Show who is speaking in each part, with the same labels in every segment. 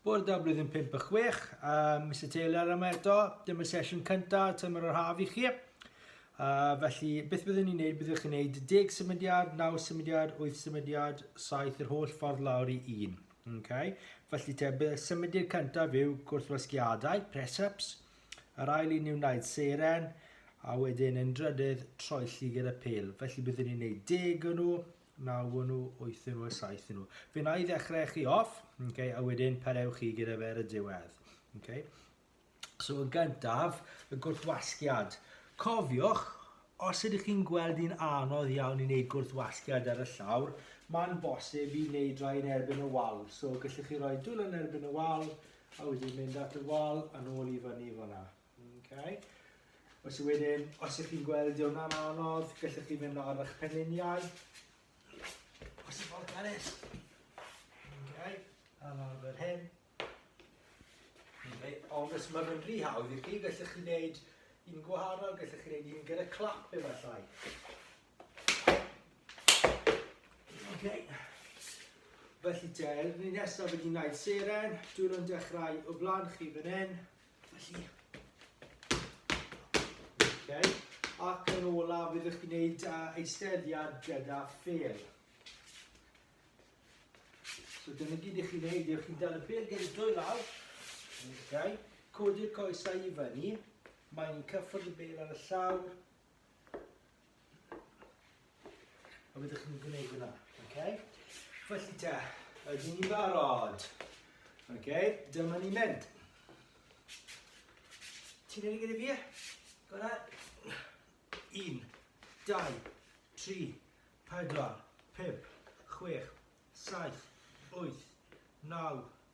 Speaker 1: Bore da blwyddyn 5 a 6, uh, Mr Taylor yma eto, dyma sesiwn cyntaf tymor yr haf i chi. Uh, felly, beth byddwn ni'n neud? Byddwch chi'n neud 10 symudiad, 9 symudiad, 8 symudiad, 7 yr holl ffordd lawr i 1. Okay? Felly te, bydd symudiad cyntaf yw gwrthwasgiadau, press-ups, yr ail un yw wneud seren, a wedyn yn drydydd troelli gyda pel. Felly byddwn ni'n neud 10 o nhw, Na, wn nhw, wythyn nhw a saethyn nhw. Fe na i ddechrau chi off, okay, a wedyn pareu chi gyda fe ar y diwedd. Okay? So yn gyntaf, y gwrthwasgiad. Cofiwch, os ydych chi'n gweld hi'n anodd iawn i wneud gwrthwasgiad ar y llawr, mae'n bosib i wneud rhai yn erbyn y wal. So gallwch chi roi dwylo yn erbyn y wal, a wedyn mynd at y wal a nôl i fyny i fyna. Okay. Felly wedyn, os ych chi'n gweld di hwnna'n anodd, gallwch chi fynd ar eich penuniau. Os ych chi'n tennis. Okay. A nawr fel hyn. Okay. Ond os mae'n mynd rhy hawdd i chi, gallwch chi wneud un gwahanol, gallwch chi wneud un gyda clap efallai. Okay. Felly te, ni nesaf wedi gwneud seren, dwi'n yn dechrau o flan chi fan hyn, Felly. Okay. Ac yn olaf, bydd ych gwneud uh, eisteddiad gyda ffel. So dyna gyd i chi wneud, yw'ch chi'n dal y ffel gyda dwy law. Okay. Codi'r coesau i fyny. Mae'n cyffwrdd y bel ar y llawr. A byddwch chi'n gwneud hwnna, okay? Felly te, ydyn ni'n barod? Okay, dyma ni'n mynd. Ti'n mynd i gyda fi? Gwna? Un, dau, tri, pedwar, pump, chwech, saith, wyth, naw,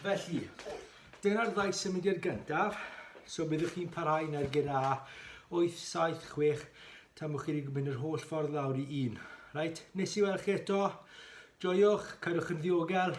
Speaker 1: Felly, dyna'r ddau symudiad gyntaf. So byddwch chi'n parhau na'r gyda 8, 7, 6 tan bod chi wedi mynd yr holl ffordd lawr i 1. Right, nes i weld chi eto. Joiwch, cadwch yn ddiogel.